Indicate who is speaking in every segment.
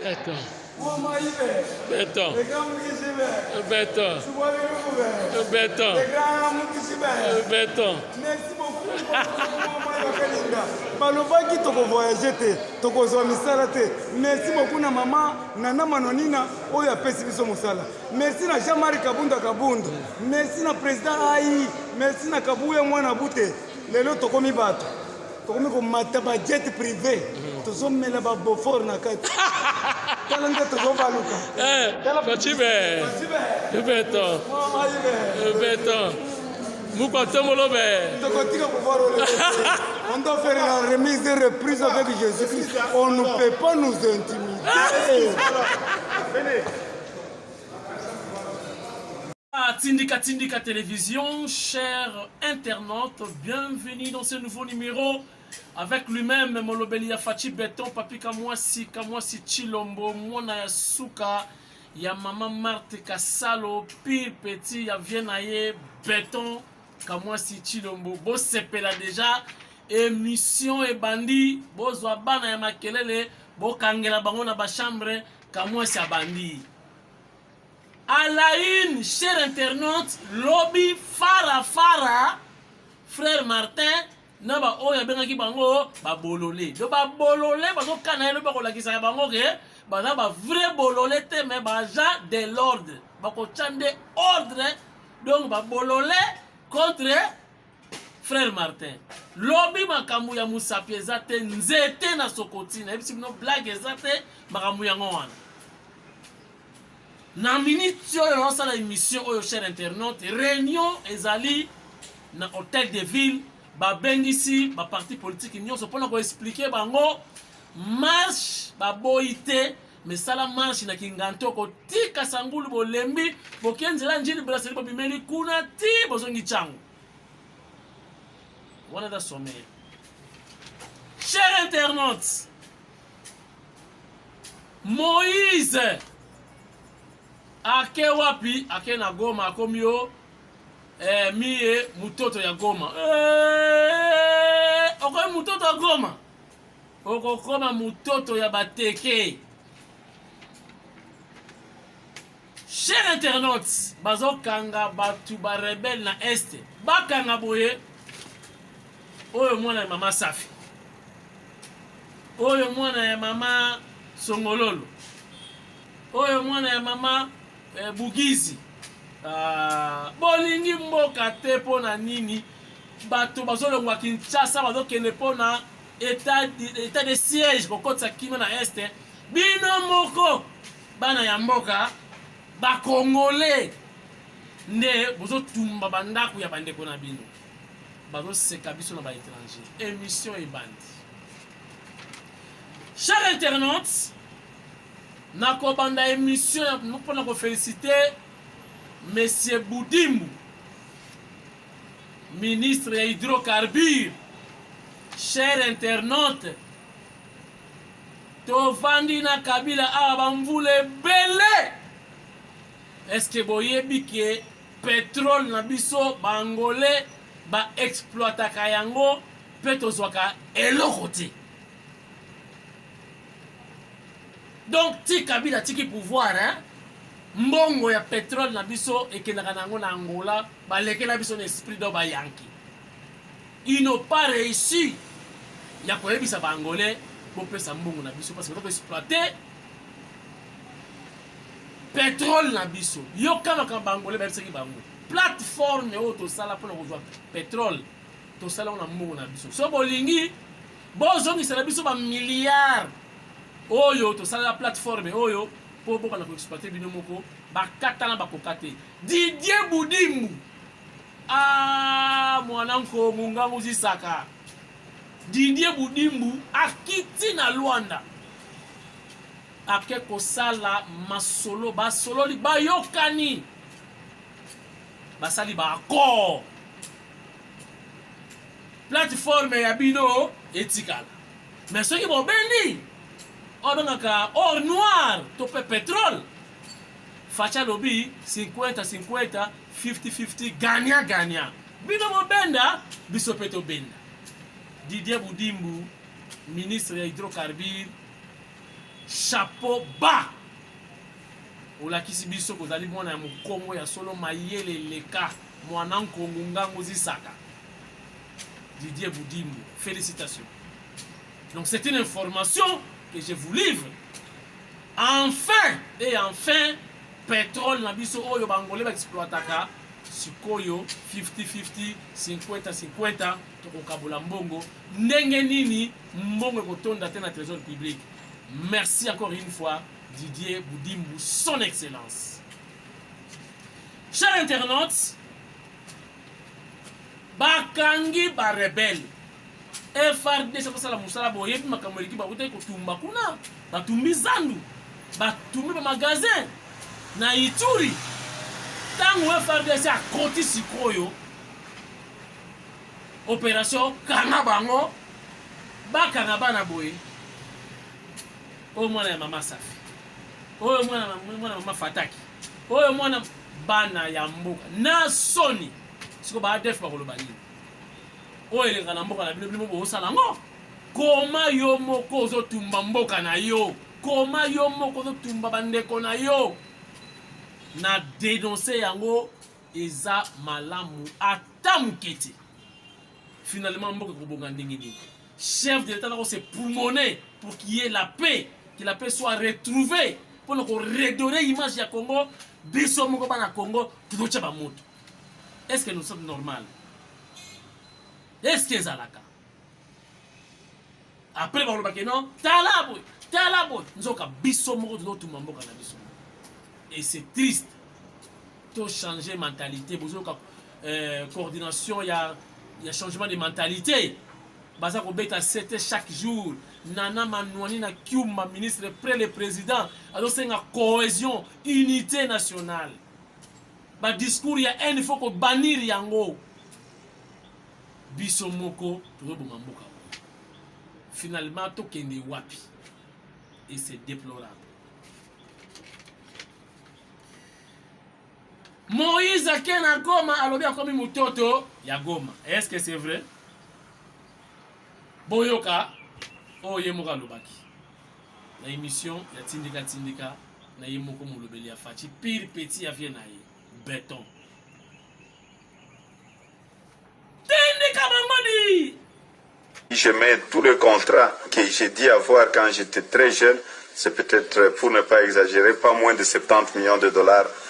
Speaker 1: Beton. Beton. Beton. Beton.
Speaker 2: Beton. Merci beaucoup. balobaki tokovoyage te tokozwa misala te merci beaucoup na mama nana manonina oyo apesi biso mosala merci na jean marie kabunda kabundu merci na président ai merci na kabuya mwana bute lelo tokomi bato tokomi komata bajet privé mhm. tozomela babofor na kati tala nde tozobaluka bacibe
Speaker 1: eh, beto beto mukwatembolo be
Speaker 2: tokotika pouvoir on doit faire la remise et reprise avec jésus christ on ne peut pas nous intimider
Speaker 3: Ah, Tindika Tindika Télévision, chers internautes, bienvenue dans ce nouveau numéro avec lui-même Molobeli ya Fachi Beton, Papi Kamwasi, Kamwasi Chilombo, Mwana ya Suka, ya Mama Marthe Kasalo, Pire Petit, ya Viennaye, Beton, Kamwasi Chilombo. Bo sepela déjà, émission et bandi, bo zwa bana ya makelele, bo kangela bango na ba chambre, Kamwasi abandi. À la une, cher internaute, lobi fara fara frère Martin na ba oyo abengaki bango ba bolole. Donc ba bolole bazo kana lobi bakolakisa ya bango ke baza ba vrai bolole te mais baza de l'ordre. Bakotya nde ordre donc ba bolole contre frère Martin. Lobi makambo ya musapi eza te nzete na sokoti nayebisi bino blague eza te makambo yango wana. Na minute oyo naosala emission oyo, cher internaute, reunion ezali na hotel de ville, babengisi ba parti politique nyonso mpo na koexplike bango marche baboyi te mesala marche na kinganto kotika sangulu bolembi boke nzela njini braseli bobimeli kuna ti bozongi cango wana da sommeil cher internaute Moïse ake wapi? Ake na Goma, akomi yo eh, miye mutoto ya Goma eh, okomi mutoto ya Goma, okokoma mutoto ya bateke. Cher internautes, bazokanga batu ba rebelle na est, bakanga boye oyo mwana ya mama Safi, oyo mwana ya mama Songololo, oyo mwana ya mama eh, Bugizi. Ah, bolingi mboka te mpo na nini? Bato bazolongwa Kinshasa bazokende mpo na etat de siège kokotisa kimia na est, bino moko Bana ya mboka ba congolais nde bozo tumba ba ndaku ya bandeko na bino bazo seka biso na ba étranger émission ebandi cher internaute nakobanda émission mpo na kofélicite monsieur budimbu ministre ya hydrocarbure cher internaute Tovandi na Kabila awa ba mvula ebele. Est-ce que boyebi que petrole na biso ba angolais ba exploitaka yango pe tozwaka eloko te. Donc ti Kabila tiki pouvoir hein. Mbongo ya petrole na biso ekendaka na yango na Angola, balekela biso na esprit do ba Yankee. Ils n'ont pas reussi ya koyebisa ba angolais bopesa mbongo na biso parce que toko exploiter petrole na biso yoka makambo ba angolais bayebisaki bango plateforme oyo tosala mpona kozwa petrole tosala yango na mbongo na biso so bolingi bozongisela biso bamilliard oyo tosalela plateforme oyo mpo bokana koexploite bino moko bakatana bakoka te didie budimbu Ah, mwana nko mungangu zisaka Didier Budimbu akiti na Luanda ake kosala masolo basololi bayokani basali ba accord plateforme ya bino etikala me soki bobendi obengaka or noir to mpe petrole facha lobi 50 50 50-50 gagnant gagnant. Bino bobenda, biso pe tobenda. Didier Budimbu, ministre ya hydrocarbure, chapeau bas. Olakisi biso kozali mwana ya mokongo ya solo mayele leka mwana nkongo ngango zisaka. Didier Budimbu, félicitations. Donc c'est une information que je vous livre. Enfin et enfin petrole na biso oyo ba Angolais ba exploitaka sikoyo 50-50, 50-50 tokokabola mbongo ndenge nini mbongo ekotonda te na trésor public. Merci encore une fois Didier Boudimbu, son excellence. Chers internautes, bakangi ba rebelles FRDC basala musala boyebi makambo eleki bakutaki kotumba kuna batumbi zandu batumbi ba magasin na Ituri ntango FRDC akoti sikoyo operation kanga bango bakanga bana boye oyo mwana ya mama safi oyo mwana mwana mama fataki oyo mwana bana ya mboka na soni siko ba adf bakoloba nini oyo eleka na mboka na bino bino bosala yango koma yo moko ozotumba mboka na yo koma yo moko ozotumba bandeko na yo na denonse yango eza malamu ata moke te finalement mboka ekobonga ndenge nini chef de l'état nako se pulmone pour qu'il y ait la paix que la paix soit retrouvée mpo na koredore image ya congo biso moko bana congo tozotya bamoto est ce que nous sommes normal est ce que ezalaka après balobaka non tala boye tala boye nzoka biso moko tozotuma mboka na biso et c'est triste tochange mentalité bozoyoka euh, coordination ya, ya changement de mentalité baza kobeta sete chaque jour nana manuani na kiuma ministre près le président azosenga cohésion unité nationale ba discours ya haine faut ko bannir yango biso moko tozoboma mboka oyo finalement tokende wapi et c'est déplorable moïse ake na goma alobi akomi mototo ya goma est ce que c'est vrai boyoka oyo ye moko alobaki na emission ya tindika tindika na ye moko molobeli ya faci pire petit ya vie na ye beton tindika bango di Je
Speaker 4: mets tous les contrats que j'ai dit avoir quand j'étais très jeune. C'est peut-être, pour ne pas exagérer, pas moins de 70 millions de dollars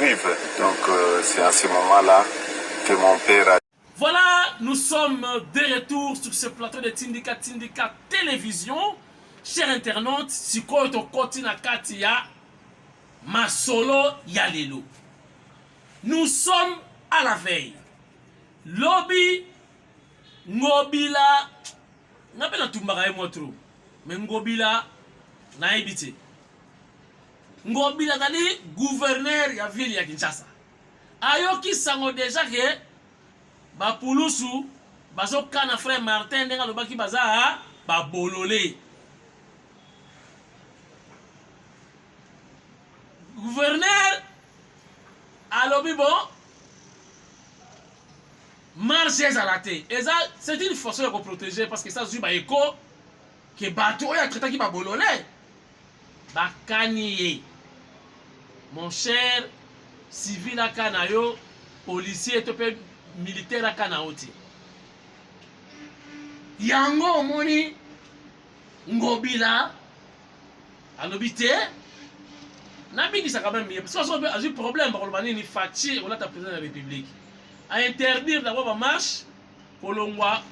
Speaker 4: Vive. Donc euh, c'est à ce moment-là que mon père a... Voilà, nous
Speaker 3: sommes de retour sur ce plateau de Tindika Tindika Télévision. Chers internautes, sikoyo tokoti na kati ya masolo ya lelo. Nous sommes à la veille. Lobby Ngobila nga mpe natumbaka ye mwa tro me ngobila nayebi te Ngobila azali gouverneur ya ville ya Kinshasa. Ayoki sango deja ke bapulusu bazokana frère Martin ndenge alobaki baza babolole. Gouverneur alobi bo marche ezala te eza c'est une façon ya koprotege parce que eza zwi baeko ke bato oyo atraitaki babolole bakani ye mon cher civil aka na yo policier to mpe militaire aka na yo te yango omoni ngobila alobi te nabingisaka meme ye parce que azwi problème bakoloba nini faci olata président ya république a interdire d'abord bamarche kolongwa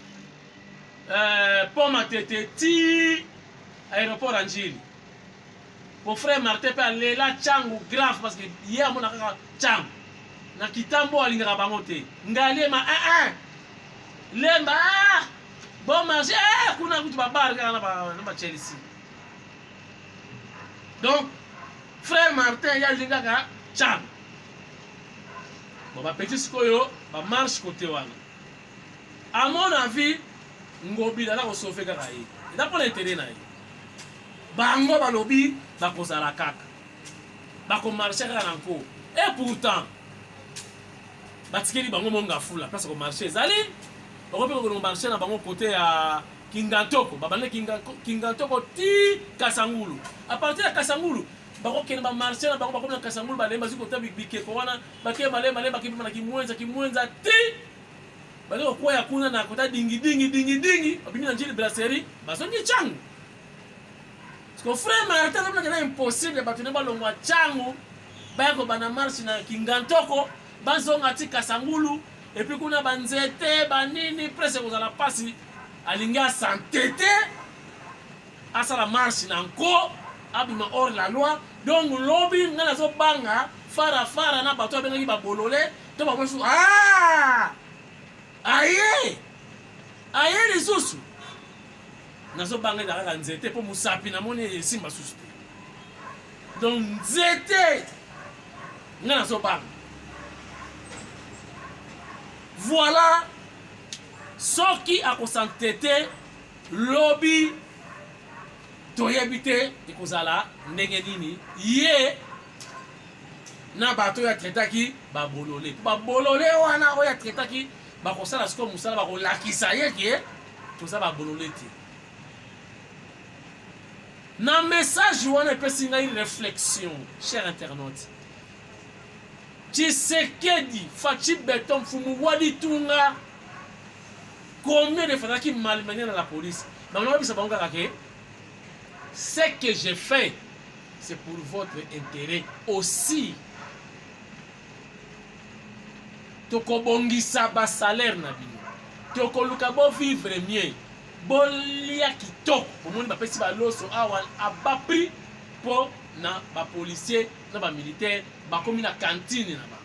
Speaker 3: euh, pont matete ti aéroport ya njili po frère martin mpe alela cango grave parce que ye amona kaka cango na kitambo alingaka bango te ngaliema aa ah, ah. lemba ah, bon marché eh, kuna kutu babare kaka na bachelsea donc frère martin ye alingaka cango Bon, ba petits sikoyo ba marche côté wana. À mon avis, Ngobila na ko sauver kaka ye. Eza mpo na intérêt na ye. Bango balobi bakozala kaka. Bakomarche kaka na nko. Et pourtant, batikeli bango monga fula place ko marché ezali okoki mpe kokende marché na bango kote ya kingatoko babanda kingatoko ti kasangulu apartir ya kasangulu bakokende ba marché na bango bakomi na kasangulu balemi bazwi kota bikeko wana bake malemi malemi bakipema na kimwenza kimwenza ti baza kokweya kuna na kota dingidingi dingidingi babimi na njili brasserie bazongi cangu siko frère martin alobelaka na impossible bato ne balongwa cangu baya kobanda marche na kingantoko bazonga ti kasangulu epuis kuna banzete banini prese kozala mpasi alingi asante te asala marche na nko abima hors la loi donc lobi ngai nazobanga fara fara na bato abengaki babolole to bango lisusu ah! aye aye lisusu nazobanga eza kaka nzete mpo mosapi namoni esimba susu te donc nzete ngai nazobanga voilà soki akosantete lobi toyebi te ekozala ndenge nini ye na bato oyo atretaki babolole mpo babolole wana oyo atretaki bakosala sikoyo mosala bakolakisa ye ke toza babolole te na message wana epesi ngai réflexion cher internaute tshisekedi faci beton mfumu walitunga combien de fois nazalaki malmenia na la police bango nabisa bango kaka ke ce que j'ai fait c'est pour votre intérêt aussi tokobongisa basalaire na bino tokoluka bovivre mieux bolia kitoko bomoni bapesi baloso awa aba prix mpo na bapolicier na bamilitaire bakomi na kantine na bango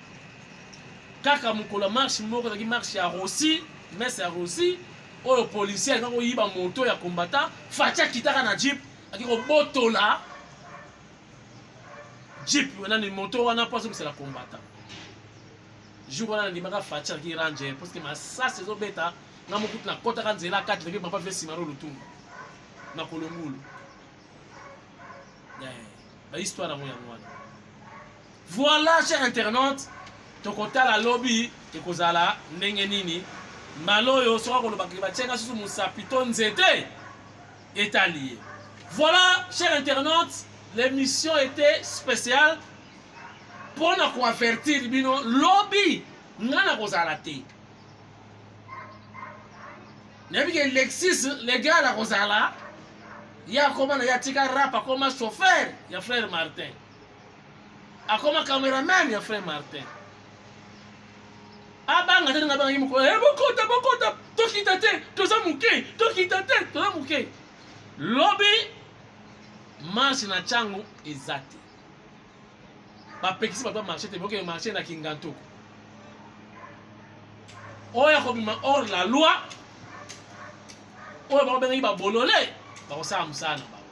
Speaker 3: kaka mokolo ya marche moko ezalaki marche ya rossi mese ya rossi oyo policier alingaki koyiba moto ya combattant faci akitaka na jeep aki kobotola jeep nani moto wana mpo azongisela combattant jour wana nandimaka faci alaki ranger parce que masasi ezobeta nga mokutu nakotaka nzela kati leke papa vie simaro lutumba na kolongulu eh, bahistoire yango yango wana Voilà, cher internaute, tokotala lobi ekozala ndenge nini mbala oyo soki akolobaka batiaka susu mosapi to nzete etali ye voilà cher internaute l'émission était spéciale mpo na koavertir bino lobi ngai nakozala te nayebi ke lexis legal akozala ye akoma na ye atika rap akoma chauffeur ya frère martin akoma cameraman ya frère martin abanga te ndenge abangaki mokolo e bokota bokota tokita te toza moke tokita te toza moke lobi marche na ntango eza te bapekisi bato ya marché te bokende marché na kingantoko oyo akobima hors la loi oyo bango bengaki babolole bakosala mosala na bango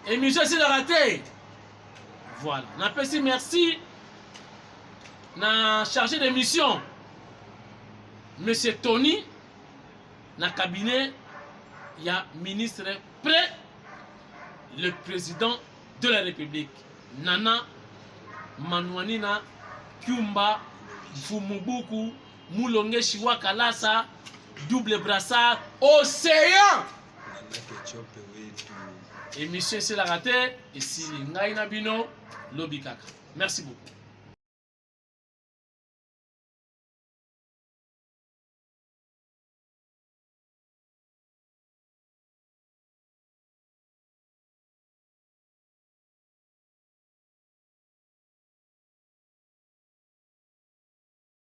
Speaker 3: Emission esilaka te. Voilà. Napesi merci na chargé de mission Monsieur Tony na cabinet ya ministre près le président de la République Nana Manuanina Kyumba Mfumubuku mulonge shiwa kalasa double brassard océan émission esilaka te esili ngai na bino lobi kaka merci beaucoup